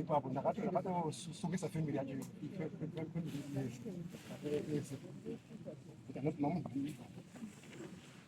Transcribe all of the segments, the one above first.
ipapo ndakatosungisa family yacho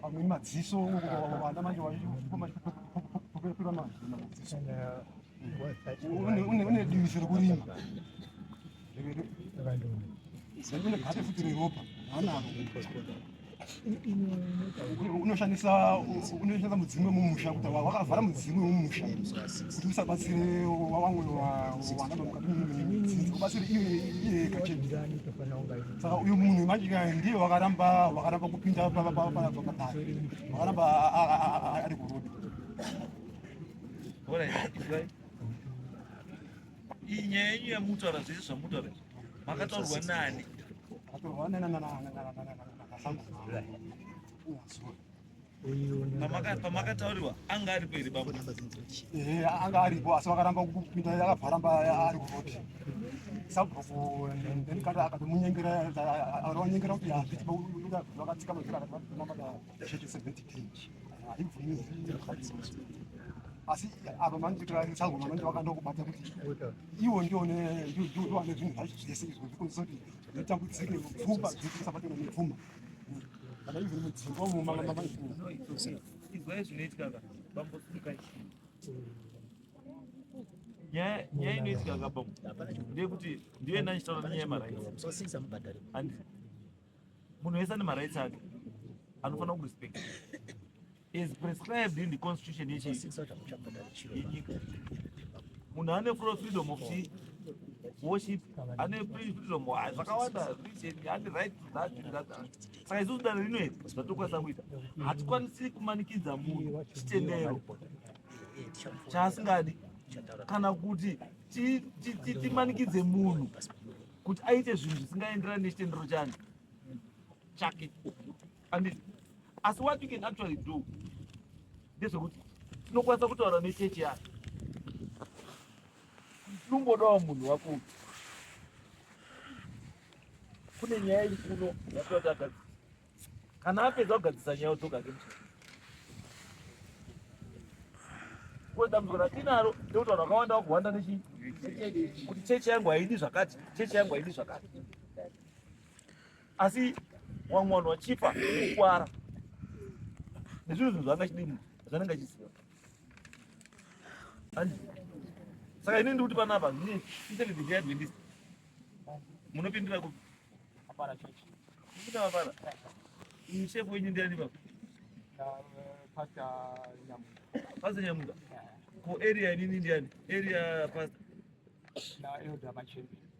pamwe madziso vana manje vaipira madziso une diviso rekurima une gate futi reropa hanaro unoshandisa unoshandisa mudzimu wemumusha kuti wakavhara mudzimu wemumusha kuti usabatsire wamwe wana mukati mudzinzi ubatsire iye iye kacheni saka uyu munhu imajika ndiye wakaramba wakaramba kupinda paakadai wakaramba ari kurudi iyi nyaya yenyu yamutaura zvese zvamutaura makataurwa nani akataurwa nanasangoma pamakatauriwa anga aripo here baba eh, anga aripo asi vakaramba kupinda akabvaramba ari kuvoti sabhuku ndendikati akatomunyengera aonyengera kuti hazvitivakatsika mazira akativaamata shete seventy ten haibvumi asi apa manditiraisago manenge vakandokubata kuti iwo ndione ndiwane zvinhu zvacho zvese izvo zvikonzisa kuti nditambudzike mupfumba dzekusabatana mupfuma nyaya inoitika kabam ndeyekuti ndiyo enda ndichitaura nenyaya yemarights munhu wese ane marights ake anofanira kurespecta Is prescribed in the constitution yenyika. Munhu ane full freedom of worship, ane freedom ah, zvakawanda religion, ane right to that and that. Saka isusu dare rino iri zvatokwanisa kuita, hatikwanisi kumanikidza munhu chitendero chaasingadi kana kuti timanikidze munhu kuti aite zvinhu zvisingaenderani nechitendero chani chake Anditi asi what you can actually do ndezvekuti tinokwanisa kutaura nechechi yayo tinombodawo munhu wako kune nyaya iri kuno yatoti agadzisa kana apedza kugadzisa nyaya odzoka ke mchii ko dambudziko ratinaro ndekuti vanhu vakawanda vakuhwanda nechii kuti chechi yangu haidi zvakati chechi yangu haidi zvakati asi wamwe wanhu wachifa kukwara nezvinhu zvinhu zvaanga chidii munhu zvanenge achiziva saka ini ndikuti panapa zvine isekidhiadventist munopindira kupi apara church kupinda mapara shefu wenyu ndiani baba pastor nyamuka ko area inini ndiani area pastor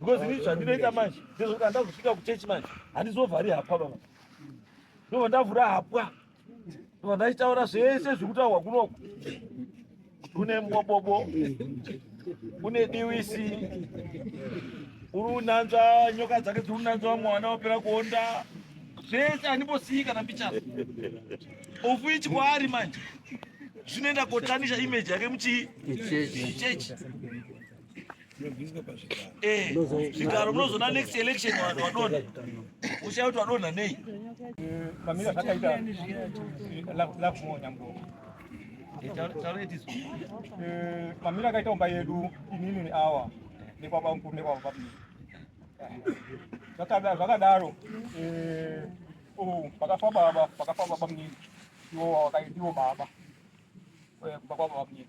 because ini zvandinoita manje ndezvokuti handa kusvika kuchechi manje handizovhari hapwa baba ndova ndavhura hapwa ndova ndachitaura zvese zvekutaurwa kunoku kune mbobobo kune diwisi uri unanzva nyoka dzake dziri unanzva mwana wapera kuonda zvese handimbosiyi kana mbichana ofu ichi kwaari manje zvinoenda kotanisha imeji yake muchii chechi Eh, zvigaro munozona next election vanhu vadonha ushaya kuti vadonha nei pamira zvakaita lakuonambo mamira akaita umba yedu inini awa nekwaba mkuru nekwaba babiri zvakadaro eh, oh, pakafa baba pakafa baba mnini iwo wakaitiwo baba eh, kubva kwababa mnini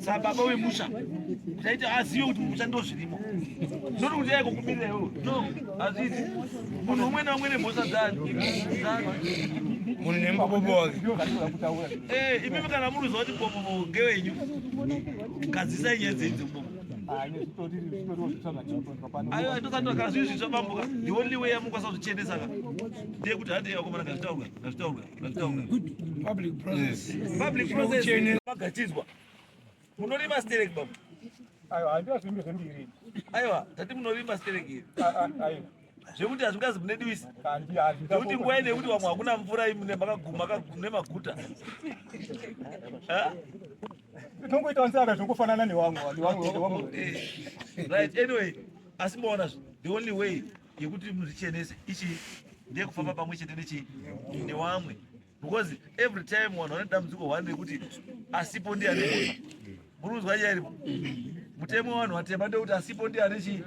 Saka baba wemusha taiti azive kuti musha ndozvirimo noti kuti yaiko kumirira iwo no hazvizi munhu umwe naumwe nemhosva dzani munhu nemupopo wake eh, imimi kana muruziva kuti popopo ngewenyu gadzisai nyaya dzenzi umomo ayo atosati akazvizvitsva bambuka the only way yamukwanisa kuzvichenesa ka ndeyekuti hati yakomana ngazvitaurwa ngazvitaurwa magatidzwa munorima sterek baba aiwa handiwa zvimbi zvembiri aiwa tati munorima sterek iri zvekuti hazvingazi mune diwisi zvekuti nguva ine yekuti vamwe hakuna mvura imune makaguma nemaguta tinongoita wansaka zvingofanana newamwe right anyway asi maona the only way yekuti muzvichenese ichi ndiye kufamba pamwe chete nechi newamwe because every time vanhu vane dambudziko hwani rekuti asipo ndiye ane muri kunzwa nyaya iripo mutemo wevanhu vatema ndekuti asipo ndiye ane chii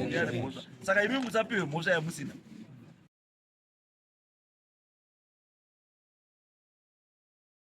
ndiye ane mhosva saka imi musapiwe mhosva yamusina